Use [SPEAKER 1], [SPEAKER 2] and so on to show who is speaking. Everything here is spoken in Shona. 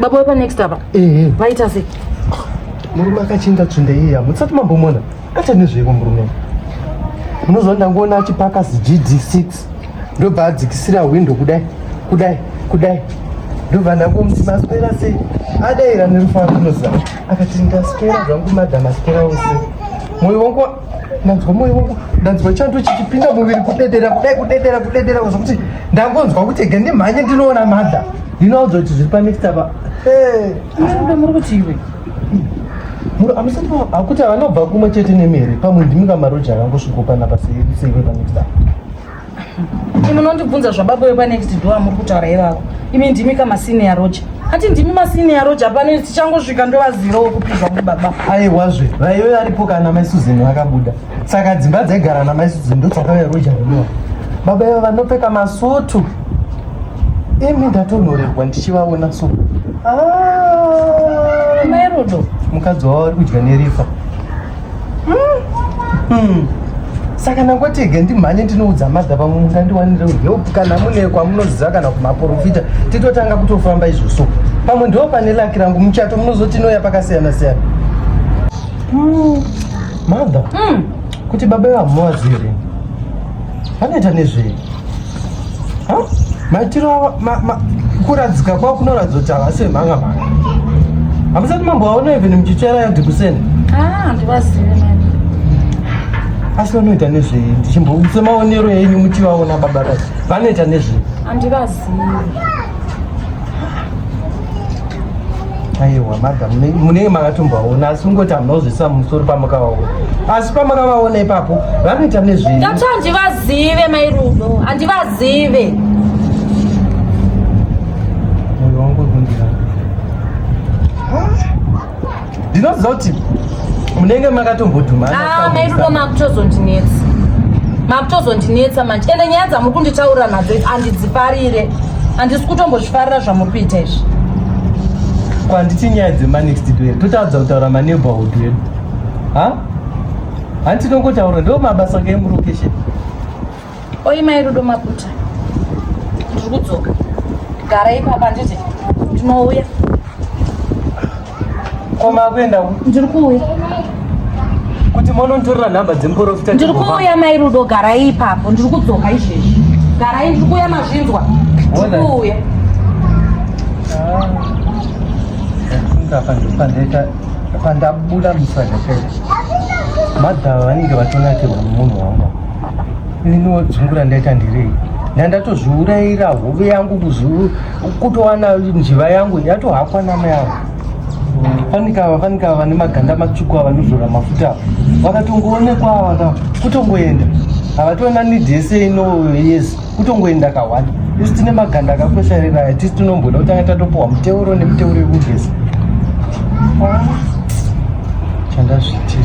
[SPEAKER 1] baba wepa next
[SPEAKER 2] apa ehe vaita sei murume
[SPEAKER 1] akachinda tsvinde iya mutsati mambomona acha nezveiko murume munoziva ndangoona achipaka zigd6 ndobva adzikisira hwindo kudai kudai kudai ndobva ndangomuti maswera sei adaira nerufaro unoziva akati ndaswera zvangu madha maswera ose moyo wangu ndanzwa moyo wangu ndanzwa chando chichipinda muviri kudedera kudai kudedera kudedera zvokuti ndangonzwa kuti ega ndimhanye ndinoona madha ndinoudzwa kuti zviri panext apa aida
[SPEAKER 2] muri kuti iwe
[SPEAKER 1] amusati akuti avanobva kumwe chete nemere pamwe ndimi kamaroja akangosvikopanapa seiwe panext apa munondibvunza
[SPEAKER 2] zvababa wepanext door muri kutaura ivavo imi ndimi kamasiniya roja ati ndimi masiniya roja pano tichangosvika ndovaziro wekupizwa mubaba aiwazve vaive
[SPEAKER 1] varipo kana mai suzeni vakabuda saka dzimba dzaigara namai suzeni ndodzakauya roja kudoa baba iva vanopfeka masutu imi ndatonhorerwa ndichivaona so ah!
[SPEAKER 2] mairudo mukadzi wavo vari
[SPEAKER 1] kudya nerifa Hmm. Hmm. Saka ndangotega ndimhanye ndinoudza madha pamwe mungandiwanire help kana mune kwamunoziva kana kumaporofita titotanga kutofamba izvoso pamwe ndo pane laki rangu muchato munozoti inoya pakasiyana siyana. Hmm. Madha. Kuti baba ivamuvazire. Vanoita nezvei? maitiro kuradzika kwavo kunoratidza kuti havasi vemhanga mhanga hamusati mambo vaona even muchitsvaira yadhikuseni
[SPEAKER 2] ah,
[SPEAKER 1] asi vanoita nezvei ndichimbo semaonero enyu muchivaona baba vanoita nezvei handivazivi aiwa madam munenge makatombaona asi kungoti hamunozvisa musoro pamakawaona asi pamakawaona ipapo vanoita nezvei ndati handivazive
[SPEAKER 2] mai rudo handivazive
[SPEAKER 1] moyo wangu kundira ndinoziva kuti munenge makatombodhumanaairudo ah,
[SPEAKER 2] makutozondinetsa makutozondinetsa manje ende nyaya dzamuri kunditaurira nadzo iti andidzifarire handisi kutombozvifarira zvamuri kuita izvi
[SPEAKER 1] kwanditi nyaya dzemanext do here totadza kutaura maneighborhood edu ha handitinongotaura ndo mabasa kemulocation
[SPEAKER 2] Oi mai Rudo Maputa. Ndiri kudzoka. Gara ipapa handiti ndinouya.
[SPEAKER 1] Koma kuenda uku. Ndiri
[SPEAKER 2] kuuya.
[SPEAKER 1] Kuti monontorera nhamba dzemuporofita. Ndiri kuuya mai Rudo
[SPEAKER 2] gara ipapo ndiri kudzoka izvezvi. Gara ndiri kuuya mazvinzwa. Ndiri kuuya. Ah. Ndapa ndiri pandaita pandabuda musajapera. Madhava vanenge vatonakirwa nemunhu wangu. Niniwo dzungu randaita ndirei ndandatozviurayira hove yangu kuzuru kutowana njiva yangu yatohakwa namai avo fanikava fanikava vane maganda matsvuku ava nozora mafuta ava vakatongoonekwa ava ka kutongoenda havatoona nidi yese ino yes kutongoenda kahwani isi tine maganda akakwesharira aya tisi tinomboda kutanga tatopiwa muteuro nemuteuro yekugeza chandazvitira